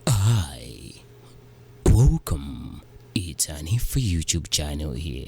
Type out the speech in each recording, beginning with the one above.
Hi, welcome. It's an info YouTube channel here.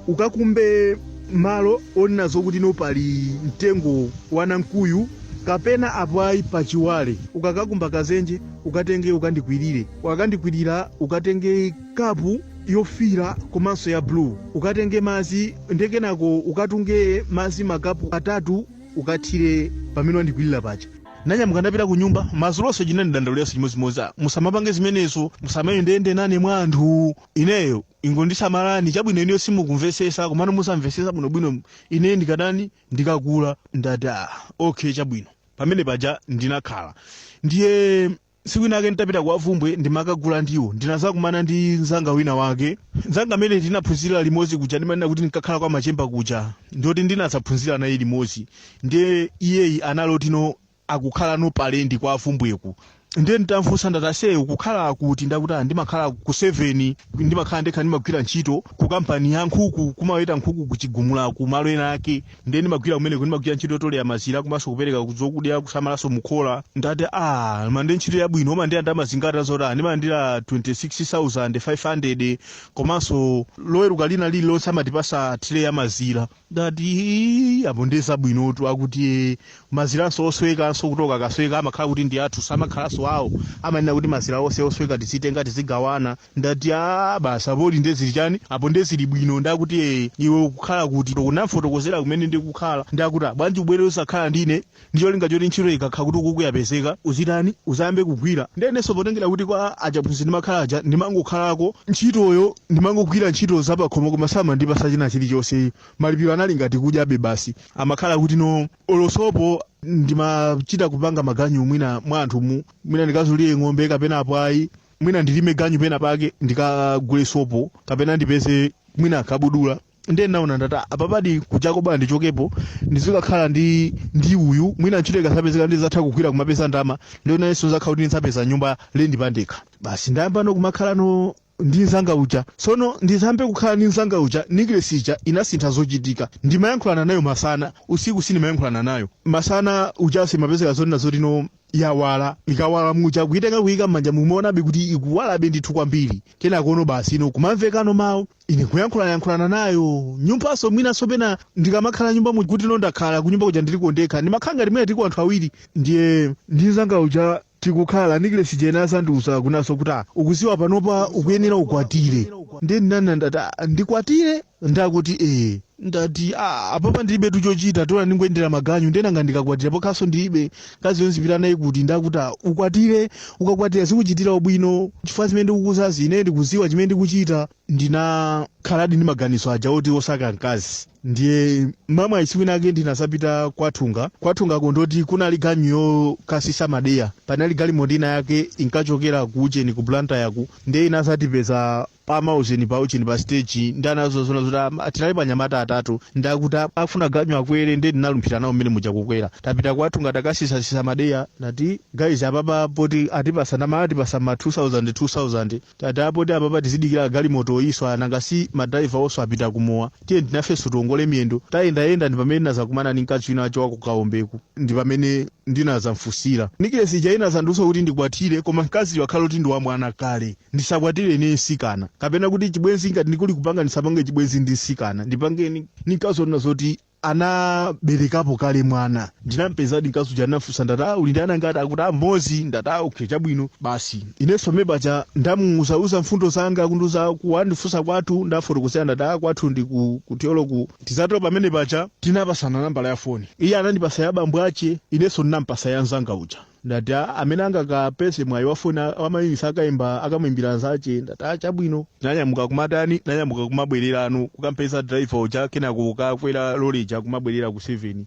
ukakumbe malo onena zokuti no pali mtengo wa namkuyu kapena apo ayi pachiwale ukakakumba kadzenje ukatenge ukandikwirire ukandikwirira ukatenge kapu yofira komanso ya blue ukatenge madzi ndekenako ukatunge madzi makapu atatu ukathire pamene wandikwirira paja Nanyamuka ndapita kunyumba. Mazulonso chinandidandauliranso chimodzimodzi. Ah, musamapange zimenezo, musamayendeyende nane mwa anthu. Ineyo, ingondisamalani. Chabwino inuyo simukumvetsetsa, komano mudzamvetsetsa bwinobwino ineyo ndikatani, ndikakula. Ndati, Ah, okay chabwino. Pamene paja ndinakhala. Ndiye. Tsiku lina lake nditapita kwa Vumbwe ndimakagula ndiwo, ndinadzakumana ndi mnzanga wina wake. Mnzanga amene tinaphunzira limodzi kuja ndimanena kuti ndinkakhala kwa Machemba kuja, ndioti ndinadzaphunzira naye limodzi. Ndiye iyeyi anali oti no akukhala no pa lendi kwa Vumbweku. Ndiye nditamfunsa ndati ase ukukhala kuti, ndiye akuti ah ndimakhala ku Seven, ndimakhala ndekha ndimagwira ntchito ku kampani ya nkhuku, kumaweta nkhuku ku Chigumula kumalo ena ake. ndiye ndimagwira kumeneko ndimagwira ntchito yotolera mazira komanso kupereka zokudya kusamalanso mukhola ndati a man nde ntchito yabwino umalandira ndalama zingati akuti ndimalandira 26500 komanso loweruka lina lililonse amatipatsa tray ya mazira ndati apo ndiye zabwinotu akuti maziranso oswekanso kuti oka akasweka amakhala kuti ndi athu samakhalanso awo amanena kuti mazira onse osweka tizitenga tizigawana ndati aa basi apo ndi nde zili chani apo nde zili bwino ndakuti ee iwe ukukhala kuti ndinamfotokozera kumene ndikukhala ndakuti "Ah, bwanji ubwere uzakhale ndine ndicholinga choti ntchito ikakhala kuti ukuku yapezeka uzitani uzayambe kugwira ndenenso potengera kuti kwa aphunzitsi ndimakhala aja ndimangokhalako ntchitoyo ndimangogwira ntchito zapakhomo koma samandipatsa china chilichonse malipiro anali ngati kudyabe basi amakhala kuti no olo sopo ndimachita kupanga maganyu mwina mwa anthumu mwina ndikazulire ng'ombe kapena apo ayi mwina ndilime ganyu pena pake ndikagule sopo kapena ndipeze mwina kabudula ndiye naona ndati "Ah, apapadi kuchita bwino ndichokepo ndizikakhala ndi ndi uyu mwina ntchito ikazapezeka ndizatha kugwira kumapeza ndama ndiye nanenso zakhala kuti ndizapeza nyumba ya lendi pandekha basi ndayamba no kumakhala no ndi nzanga uja tsono nditayamba kukhala ndi nzanga uja necklace ija inasintha zochitika ndimayankhulana nayo masana usiku sindimayankhulana nayo masana uja simapezeka zoti nena zoti no yawala ikawala muja kuitenga kuika m'manja mumaonabe kuti ikuwalabe ndithu kwambiri kenako no basi no kumamvekano mawu ine kuyankhulanayankhulana nayo nyumbanso mwinanso pena ndikamakhala nyumbamu kuti no ndakhala kunyumba kuja ndiliko ndekha ndimakhala ngati mwina tiliko anthu awiri ndiye ndi nzanga uja tikukhala necklace ija inazandiuza kunena zo kuti "Ah, ukudziwa panopa ukuyenera ukwatire ndiye ndinanena ndati ndikwatire ndakuti ee ndati "Ah, apapa ndilibetu chochita tola ndingoyendera maganyu nde nanga ndikakwatira pokhalaso ndilibe mkaziyo nzipita naye kuti ndakuti "Ah, ukwatire ukakwatira zikuchitira ubwino chifukwa zimene ndikukuuzazi ine ndikuziwa chimene ndikuchita ndinakhaladi ndi maganizo aja oti osaka mkazi ndiye mwamwayi siku linake ndinazapita kwa Thunga kwa Thungako ndoti kunali ganyu yokasisa madeya panali galimoto ina yake inkachokera ku ujeni ku blantyre ku ndiye inazatipeza pa maujeni paujeni pa stage ndi anazozona zoti am- tinalipo anyamata atatu ndakuti a- afuna ganyu akwere ndiye ndinalumphira nawo mmene muja kukwera tapita kwa Thunga takasisasisa madeya ndati guys apapa poti atipasa ndalama atipasa ma 2000 2000 tati a poti apapa tizidikira galimoto oyiswa nanga si madriverwonso apita kumowa tiyeni nafenso tiongole miyendo tayendayenda ndi pamene ndinazakumana ndi mkazi wina wache wa ku Kaombeku ndi pamene ndinazamfusira nikilesi ija inazandiuza kuti ndikwatire koma mkaziyo akhale kuti ndi wamwana kale Ndisakwatire ine msikana, kapena kuti chibwenzi ngati ndikuli kupanga ndisapange chibwenzi ndi msikana, ndipange ndi mkazi onena zoti anaberekapo kale mwana. Ndinampezadi mkazi uja ndinafunsa ndati ah uli ndi ana angati akuti ah mmodzi ndati ah okay chabwino basi inenso pamene paja ndamuuzauza mfundo zanga kundiuza ku andifunsa kwathu ndafotokozera ndati ah kwathu ndi ku ku Thyolo ku tizatero pamene paja tinapasana nambala ya foni iye anandipasa ya bambo ache inenso ndinampasa ya mzanga uja ndati a amene angakapeze mwayi wa foni wa mayunitsi akaimba akamwimbira nzache ndati a chabwino tinanyamuka kumatani tinanyamuka kumabwererano kukampeza driver uja kenako kukakwera lole ija kumabwerera ku 7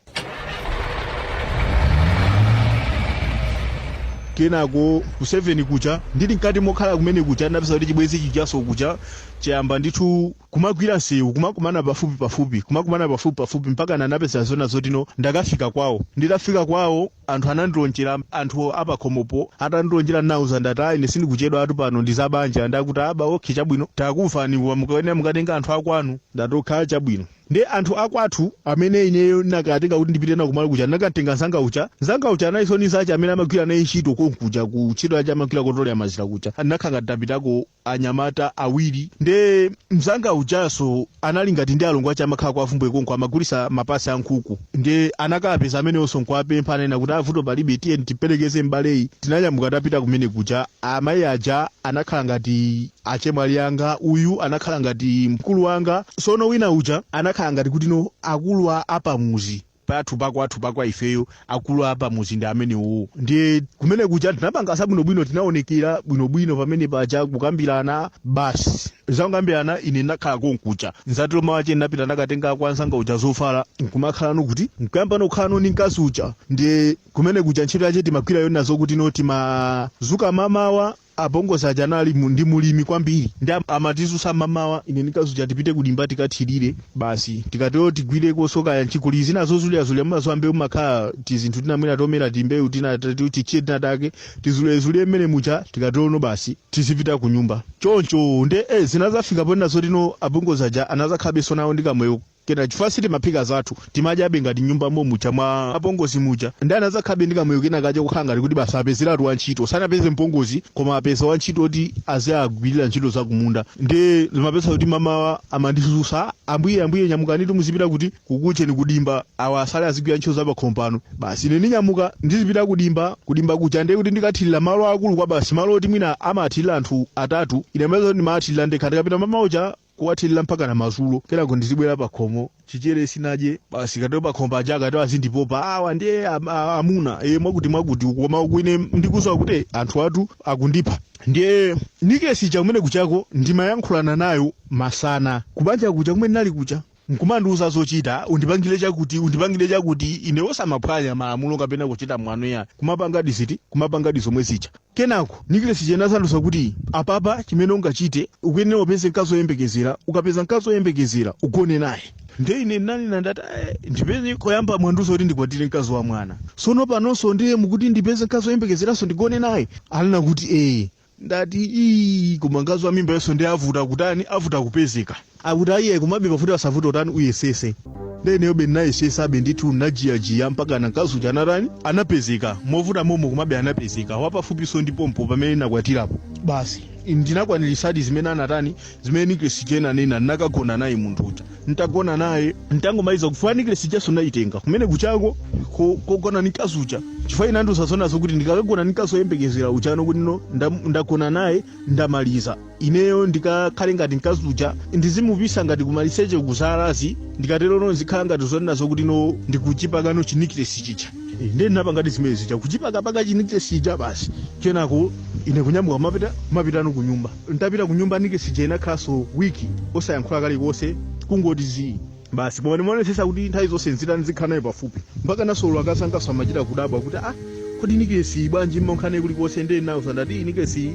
kenako ku 7 kuja ndili mkati mokhala kumene kuja ndapeza kuti chibwenzi chijaso kuja chayamba ndithu kumagwira nsewu kumakumana pafupi pafupi kumakumana pafupi pafupi mpaka ndinapeza zona zoti no ndakafika kwawo nditafika kwawo Anthu anandilonjera, anthu apakhomopo atandilonjera nawauza ndati ah ine sindikuchedwatu pano ndi za banja ndakuti aba okay chabwino takumvani koma mukayenera mukatenge anthu akwanu ndati okay chabwino. Ndiye anthu akwathu amene ineyo ndinakatenga kuti ndipite nawo kumalo kuja ndinakatenga nzanga uja, nzanga uja analinso ndi nzache amene amagwira naye ntchito konkuja ku ntchito yache amagwira kotolera mazira kuja ndinakhala ngati ndapitako anyamata awiri nde mzanga ujaso anali ngati ndi alongo ache amakhala kwa Bvumbwe konko amagulisa mapasi a nkhuku nde anakapeza amenewonso nkuwapempha ananena kuti a vuto palibe tiyeni timperekeze m'baleyi tinanyamuka tapita kumene kuja amayi aja anakhala ngati achemwali anga uyu anakhala ngati mkulu wanga sono wina uja anakhala ngati kuti no akulu a- apamuzi pathu pakwathu pakwa ifeyo akulu apamuzi ndi amenewowo ndiye kumene kuja tinapanga zabwinobwino tinaonekera bwinobwino pamene paja kukambirana basi zakukambirana ine ndinakhala konkuja nzatiro mawache ndinapita ndakatenga kwa nzanga uja zovala nkumakhalano kuti nkuyambano kukhalano ndi mkazi uja ndiye kumene kuja ntchito yache timagwira yona zokuti no timazuka mamawa Apongozi aja anali mu, ndi mulimi kwambiri nde amatizutsa mmamawa ine ndi mkazi uja tipite kudimba tikathilire basi tikatero tigwirekoso kaya nchi kuli zina zozulazula mumaziwa mbewu mumakhala tizinthu tina mwina tomera timbewu tina tatu titchire tina take tizulezulie mmene muja tikaterono basi tizipita kunyumba choncho nde eh zinazafika ponena zoti no apongozi aja anazakhabeso nawo ndi kamoyo kena chifukwa sitimaphika zathu timadyabe ngati nyumba momuja mwa apongozi muja nde anadzakhabe ndi kamoyo kena kaja kukhala ngati kuti basi apezeratu wantchito sanapeze mpongozi koma apeza wantchito oti aziagwirira ntchito zakumunda nde ndimapeza kuti mamawa amandizutsa ambuye ambuye nyamukanitu muzipita kuti kukucheni kudimba awa asale azigwira ntchito zapakhomo pano basi ine ndinyamuka ndizipita kudimba kudimba kuja ndiye kuti ndikathirira malo akulu kwabasi malo oti mwina amathirira anthu atatu ine mapeza kuti ndimathirira ndekha ndikapita mamawa uja kuwathilila mpakana mazulo kenako ndizibwela pakhomo chichere sinadye basi katero pakhomo paja akati azindipopa awa ndiye am- a- amuna e mwakuti mwakuti koma uku ine ndikuziwa kuti anthu athu akundipha ndiye nikilesi ija kumene kujako ndimayankhulana nayo masana kubanja kuja kumene nali kuja nkumandiuza zochita undipangile chakuti undipangile chakuti ine osamaphwanya malamulo kapena kuchita mwano iyayi kumapangadi ziti kumapangadi zomwe zija kenako nikilesi ija inazandiuza kuti apapa chimene ungachite ukuyenera upeze mkazi oyembekezera ukapeza mkazi oyembekezera ugone naye nde ine nanena ndati "Eh, ndipeze koyamba mwandiuza kuti ndikwatire mkazi wa mwana sono panonso ndiye mukuti ndipeze mkazi oyembekezeranso ndigone naye alina kuti ee ndati ii koma mkazi wa mimbayonso nde avuta kutani avuta kupezeka akuti ayiye komabe pavute pasavute utani uyesese nde ineyobe ndinayesesabe ndithu najiyajiya mpaka mkazi uja anatani anapezeka movuta momo komabe anapezeka wapafupiso ndi pompo pamene nakwatirapo basi ndinakwanirisadi zimene anatani zimene niklesi ija inanena ndinakagona naye munthu uja ntagona naye ntangomaliza kuja niklesi ijanso ndayitenga kumene kujako ko- kogona ni mkazi uja chifukwa inandiuza zonena zokuti ndikakagona ni mkazi oyembekezera ujano kuti no ndam- ndagona naye ndamaliza ineyo ndikakhale ngati mkazi uja ndizimupisa ngati kumalisecheku zalazi ndikatero no zikhala ngati zonena zokuti no ndikuchipakano chiniklesi chija ndiye ndinapangadi zimene zija kuchipakapaka chiniklesi chija basi kenako ine kunyamuka mapita mapitano kunyumba ntapita kunyumba nikesi ija inakhalanso wiki osayankhula kalikonse kungoti zii basi koma ndimaonesesa kuti nthawi zonse nzitani nzikhala naye pafupi mpakanaso olo akazangaso amachita kudabwa kuti ah kodi nikesi bwanji mmakhala nayo kulikonse ndiye nawauza ndati nikesi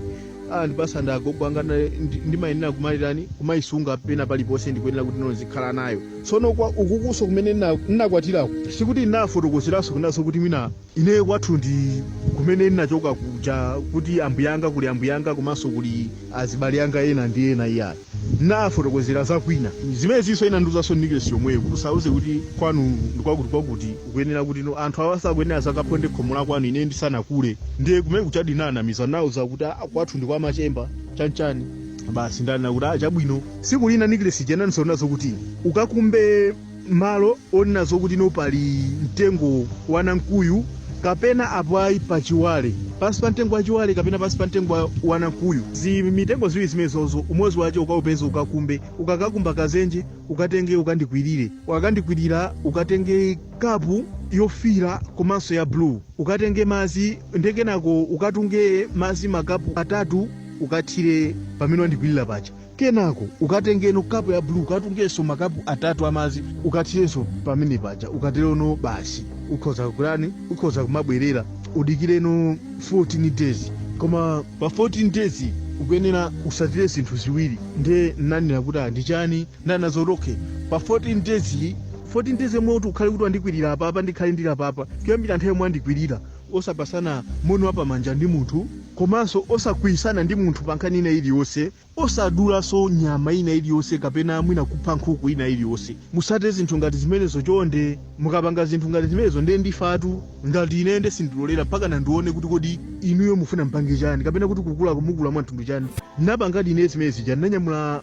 anandipasa ndi agogo anga na- ndi- ndimayenera kumayitani kumayisunga pena paliponse ndikuyenera kuti ndizikhala nayo tsono kwa ukukuso kumene nna- nnakwatiraku sikuti nnafotokozeranso kunena zokuti mwina Ineyo kwathu ndi kumene ndinachoka kuja kuti ambuyanga kuli ambuyanga komanso kuli azibale anga ena ndi ena iyayi ndinafotokozera za kwina zimenezinso inandiuzanso nikesi yomweyo kuti usauze kuti kwanu ndi kwakuti kwakuti ukuyenera kuti no anthu awa sakuyenera zakaponde khomo la kwanu ine ndisanakule ndiye kumene kuja ndinanamiza nauza kuti "Ah, kwathu ndi kwa machemba chanchani basi ndinanena kuti "Ah, chabwino siku lina nikilesi jenanisonazo kuti ukakumbe malo onena zokuti no pali mtengo wa namkuyu kapena apo ayi pa chiwale pansi pa mtengo wa chiwale kapena pansi pa mtengo wa- wa namkuyu zi mitengo ziwiri zimenezozo umodzi wache ukaupeza ukakumbe ukakakumba kazenje ukatenge ukandikwirire ukakandikwirira ukatenge kapu yofira komanso ya blue ukatenge mazi ndekenako ukatunge mazi makapu atatu ukathire pamene wandikwirira paja kenako ukatengeno kapu ya blue ukatungenso makapu atatu amazi ukathirenso pamene paja ukaterono basi ukhoza kukulani ukhoza kumabwerera udikireno 14 days koma pa 14 days ukuyenera utsatire zinthu ziwiri ndiye nanena kuti ah, ndi chani ndanazo OK pa 14 days iyi, 14 days yomwe kuti ukhale kuti wandikwirira apapa ndikhale ndili apapa kuyambira nthawi yomwe wandikwirira osapatsana moni wapamanja ndi munthu komanso osakwiyitsana ndi munthu pa nkhani ina iliyonse osadulanso nyama ina iliyonse kapena mwina kupha nkhuku ina iliyonse musate zinthu ngati zimenezo chonde mukapanga zinthu ngati zimenezo ndiye ndifatu ngati ine nde sindilolera mpaka nandione kuti kodi inuyo mufuna mpange chani kapena kuti kukula ukumukula mwa mtundu chani napangadi ine zimene zija ndinanyamula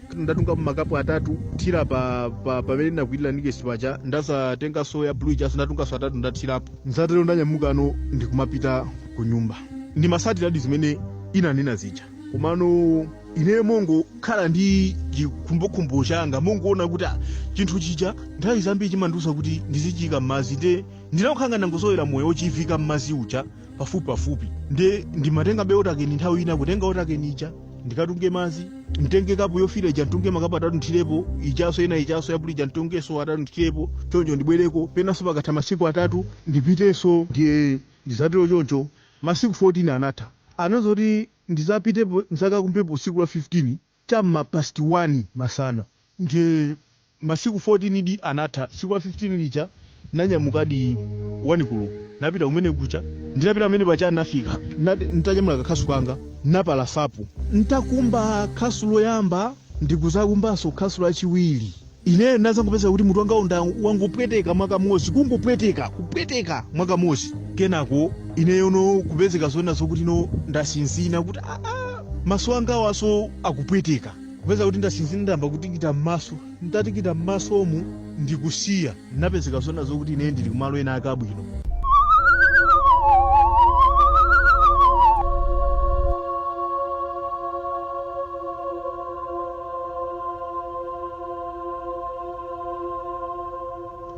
ndatunga makapu atatu thira pa pa pamene ndinakwirira nikesi paja ndazatenganso ya blue ijaso ndatunganso atatu ndathirapo ntatero ndanyamukano ndikumapita ku nyumba ndimatsatiradi zimene inanena zija komano ineyo mongokhala ndi chikhumbokhumbo changa mongoona kuti ah, chinthu chija nthawi zambiri chimandiuza kuti ndizichiyika m'madzi nde ndinakukhala ndangozolowera moyo wochiviika m'madzi uja pafupi pafupi nde ndimatenga be otakeni nthawi ina kutenga otakeni ija ndikatunge mazi mtenge kapu yofira ija mtunge makapu atatu nthirepo ichaso ina ichaso ya blue ija mtungenso atatu nthirepo choncho ndibwereko penanso pakatha masiku atatu ndipitenso ndiye ndizatero choncho masiku 14 anatha anazoti ndizapitepo nzakakumbepo tsiku la 15 cha m'ma past 1 masana nde masiku 14 di anatha, tsiku la 15 lija nanyamukadi 1 koloko napita kumene kuja, nditapita pamene paja nafika nat ntanyamula ka khasu kanga napalasapo, ntakumba khasu loyamba ndikuzakumbanso khasu lachiwiri. Ineyo ndinadzangopezeka kuti mutu wangawu nda wangopweteka mwakamozi, kungopweteka, kupweteka mwakamozi. Kenako ineyo no kupezeka zona zokuti no ndasinzina kuti ah, ah, maso angawanso akupweteka. Kupezeka kuti ndasinzina ndayamba kutikita m'maso, nditatikita m'masomu ndikusiya, ndinapezeka zona zokuti ineyo ndili kumalo ena ake abwino.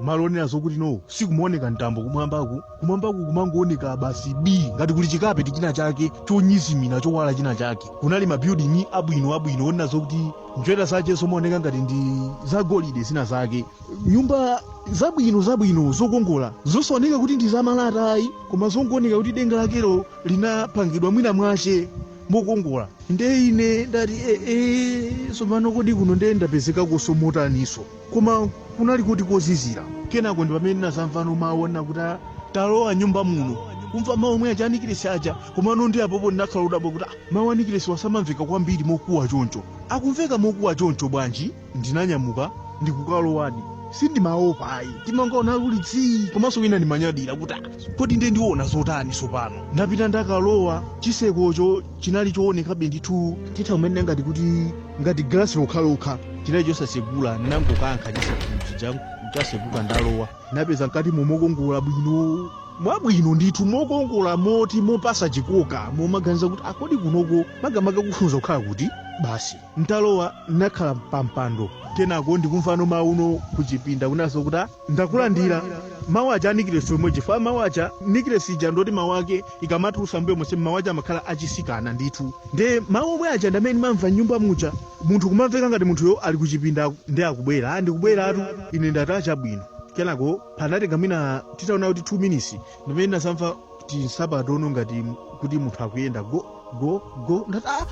malo onena zokuti no sikumaoneka mtambo kumwambaku kumwambaku kumangooneka basi bi ngati kuli chikapeti china chake chonyizimira chowala china chake kunali mabuilding abwino abwino onena zokuti njerwa zake zomaoneka ngati ndi zagolide zina zake nyumba zabwino zabwino zokongola zosaoneka kuti ndi zamalata ayi koma zongooneka kuti denga lakelo linapangidwa mwina mwache mokongola nde ine ndati ee tsopano kodi kuno nde ndapezeka kuno motaninso koma kunali kuti kozizira kenako ndi pamene ndinazamvano mawu anena kuti "Ah, talowa m'nyumba muno kumva mawu omwe aja anikilesi aja komano ndi apopo ndinakhala odabwa kuti "Ah, mawu anikilesi wa samamveka kwambiri mokuwa choncho akumveka mokuwa choncho bwanji ndinanyamuka ndikukalowadi sindimaopa ayi ndimangaona kuli tsii komanso wina ndimanyadira kuti "Ah, kodi nde ndiona zotani tsopano ndapita ndakalowa chisekocho chinali choonekabe ndithu titha kunena ngati kuti ngati galasi lokhalokha chinali chosasegula ndinangokankha chisekochija chaseguka ndalowa napeza mkati momo mokongola bwino mwabwino ndithu mokongola moti mopasa chikoka momaganiza kuti ah kodi kunoko makamaka kufunza kukhala kuti basi ntalowa nakhala pampando kenako ndikumva no mawu no kuchipinda kunanso kuti ndakulandira mawu aja anikilesi omwe chifukwa mawu aja nikilesi ija ndoti mawu ake ikamatulusa mbuyo monse mawu aja amakhala achisikana ndithu nde mawu omwe aja ndamene ndimamva m'nyumba muja munthu kumamveka ngati munthuyo ali kuchipinda ndi akubwera ah ndikubweratu ine ndati ah chabwino kenako panatenga mwina titanena kuti 2 minutes ndi mmene ndinazamva tinsapato no ngati kuti munthu akuyenda go go go ndati ah!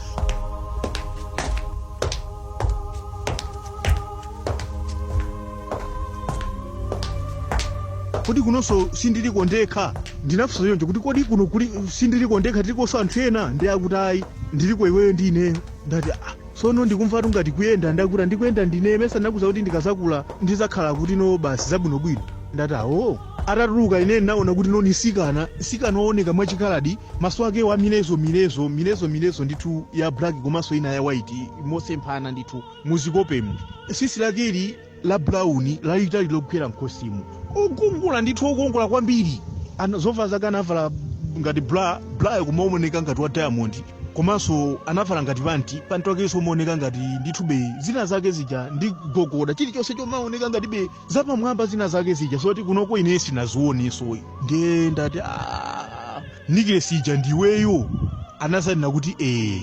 kodi kunonso sindiliko ndekha ndinafunsa choncho kuti kodi kuno sindiliko ndekha tilikonso anthu ena ndi akuti ayi tiliko iweyo ndi ineyo ndati ah, Sono ndikumvatu ngati kuyenda nda akuti ndikuyenda ndine mesa ndinakuuza kuti ndikazakula ndizakhala kuti no basi zabwino bwino ndati awoo atatuluka ine ndinaona kuti no ni mtsikana mtsikana owoneka mwa chikaladi maso ake wa amizere mizere mizere mizere ndithu ya black komanso ina ya white mosemphana ndithu muzikopemu sisi lake ili la bulauni lalitali logwera mkhosimu okongola ndithu okongola kwambiri Ana- zovala zake anavala ngati bra brayo kumaoneka ngati ya diamond komanso anavala ngati panti panti wakenso umaoneka ngati ndithu be zina zake zija ndi gogoda chilichonse chomaoneka ngati be zapamwamba zina zake zija zoti kunoko ine sinazioneso ayi ndiye ndati "Ah, nikile sija ndiweyo anazanena kuti ee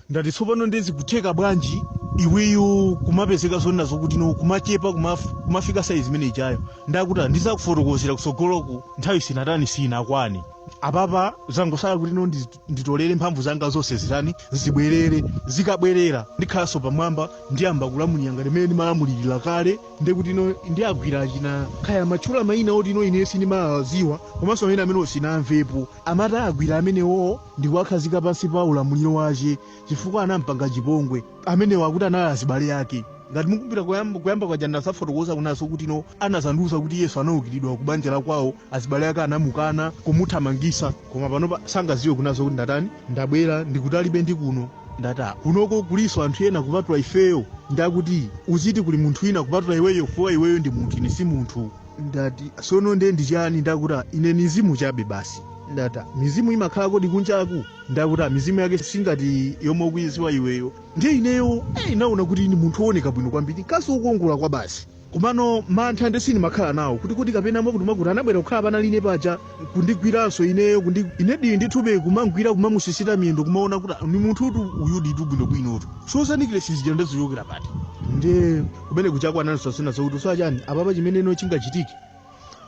ndati tsopano ndiye zikutheka bwanji iweyo kumapezeka zoona zokuti no kumachepa kumaf- kumafika saizi imene ijayo ndakuti ndizakufotokozera kutsogoloku nthawi sinatani sinakwane apapa zangosala kuti no ndi- nditolere mphamvu zanga zonse zitani zibwerere zikabwerera ndikhalanso pamwamba ndiyamba kulamulira ngati mmene ndimalamulirira kale ndekuti no ndiyagwira achina kaya amatchula mayina oti no ine sindimawadziwa komanso amene amene sinamvepo Amati awagwira amenewo ndikuwakhazika pansi pa ulamuliro wache chifukwa anampanga chipongwe. Amenewo akuti anali azibale ake. Ngati mukumbukira koyamba kuyamba kuja ndinazafotokoza kunena kuti no anazandiuza kuti Yesu anaukiridwa kubanja la kwao azibale ake anamukana kumuthamangisa koma panopa sangaziwe kunena kuti ndatani ndabwera ndikutalitu ndi kuno ndati aa kunoko kuliso anthu ena kupatula ifeyo nde akuti uziti kuli munthu wina kupatula iweyo fuwa iweyo ndi munthu ine si munthu. ndati sono nde ndi chani nde akuti "Ah, ine ni mzimu chabe basi ndati mizimu imakhala kodi kunjaku nde akuti "Ah, mizimu yake singati yomwe ukuyiziwa iweyo ndiye ineyo eh, ndinaona kuti ni munthu wooneka bwino kwambiri mkazi wokongola kwa basi komano mantha nde sindimakhala nawo kuti kuti kapena mwakuti mwakuti anabwera kukhala panali ine paja kundigwiranso ineyo kundi inedi ndithube kumamugwira kumamusisita miyendo kumaona kuti "Ah, ni munthutu uyu ndithu bwinobwinotu zoza nikile sija zija ndazichokera pati nde kumeneku wachikwanisa zina zokuti usowa chani apapa chimeneno chingachitike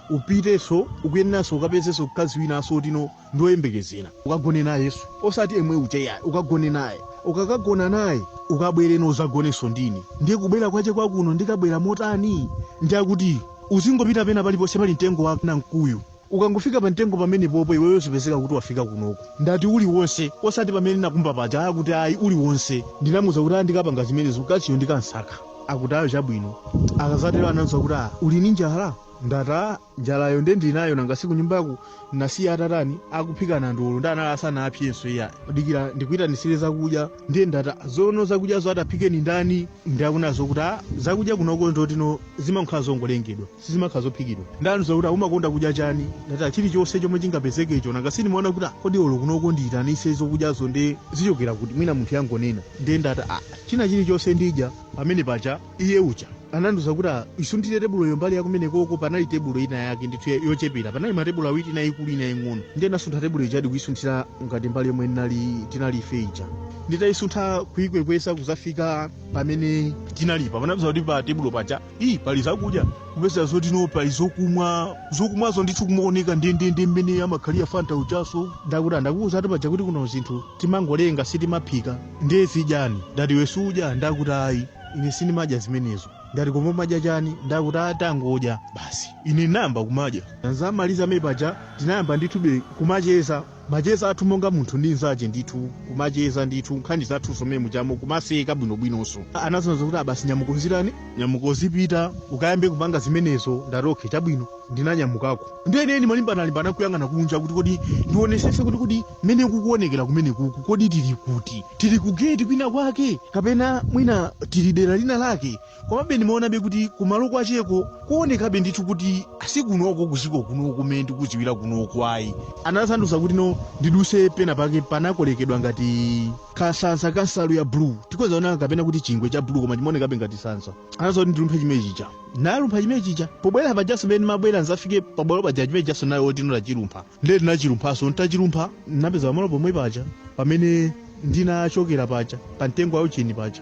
upitenso ukuyeneranso ukapezenso mkazi winanso otino ndi oyembekezera ukagone nayenso osati yemwe uja ayi ukagone naye ukakagona naye ukabwere kuno uzagonenso ndi ine ndiye kubwera kwache kwakuno ndikabwera motani nde akuti uzingopita pena paliponse pali mtengo wa mkuyu Ukangofika pamtengo pamenepopo iweyo zipezeka kuti wafika kunoko. Ndati uliwonse, osati pamene ndinakumba paja, akuti ayi uliwonse. Ndinamuuza kuti aa ndikapanga zimenezo mkaziyo ndikansaka. Akuti aa chabwino. Atazatero anandiuza kuti aa uli ndi njala? Ndati aa njalayo nde ndili nayo nanga si kunyumbaku ndinasiya atatani, akuphika nandolo nde anali asanapsenso iyayi. Dikira ndikuitanitsire zakudya. Ndiye ndati aa zoono zakudyazo ataphike ndi ndani? Nde akunena kuti aa zakudya kunoko ndizoti no zimangokhala zongolengedwa. sizimakhala zophikidwa. Nde anandiuza kuti umakonda kudya chani? Ndati ah chilichonse chomwe chingapezekecho. Nanga sindimaona kuti ah kodi olo kunoko ndiitanitse zokudyazo nde zichokera kuti? Mwina munthuyu angonena. Nde ndati ah china chilichonse ndidya. Pamene paja iye uja anandiuza kuti ah isunthire tebuloyo mbali yakumenekoko. Panali tebulo ina yake ndithu ya- yochepera. Panali matebulo awiri ina yaikulu ina yaing'ono. Nde ndinasuntha tebulo ijadi kuisunthira ngati mbali yomwe ndinali tinali ife ija. Nditaisuntha kuikwekwesa kuzafika pamene tinalipa. Ndinapeza kuti pa tebulo paja ii pali zakudya kupeza zoti no pali zokumwa zokumwazo ndithu kumaoneka ndendende mmene amakhalira fanta mujaso nde akuti ndakuuza ati paja kuti kuno zinthu timangolenga sitimaphika ndiye zidyani ndati iwe sudya nde akuti ayi ine sindimadya zimenezo ndati koma umadya chani nde akuti tangodya basi ine nayamba kumadya ntamaliza pamene paja tinayamba ndithube kumacheza Macheza athu monga munthu ndi nzache ndithu kumacheza ndithu nkhani zathuzo mmene mujamo kumaseka bwinobwinonso. Anazanena kuti basi nyamuka uzitani? Nyamuka uzipita ukayambe kupanga zimenezo. Ndati okay chabwino. Ndinanyamukako ndiye ine ndimalimbana-limbana kuyang'ana kunja kuti kodi ndionesese kuti kodi mmene kukuonekera kumenekuku kodi tili kuti? Tili ku gate kwina kwake kapena mwina tili dera lina lake? Komabe ndimaonabe kuti kumalo kwacheko kuonekabe ndithu kuti si kunoko kuziko kunoko kumene ndikuziwira kunoko ayi. Anazandiuza kuti no ndiduse pena pake panakolekedwa ngati kasansa ka nsalu ya blue tikhoza kunena kapena kuti chingwe cha blue koma chimaonekabe ngati sansa anaza kuti ndilumphe chimene chija nalumpha chimene chija pobwera pajaso mmene mabwera nsanafike pabwalo paja chimene chijaso nayo oti ndachilumpha ndiye ndinachilumphaso ntachilumpha napeza pamalo pomwe paja pamene ndinachokera paja pa mtengo wa ucheni paja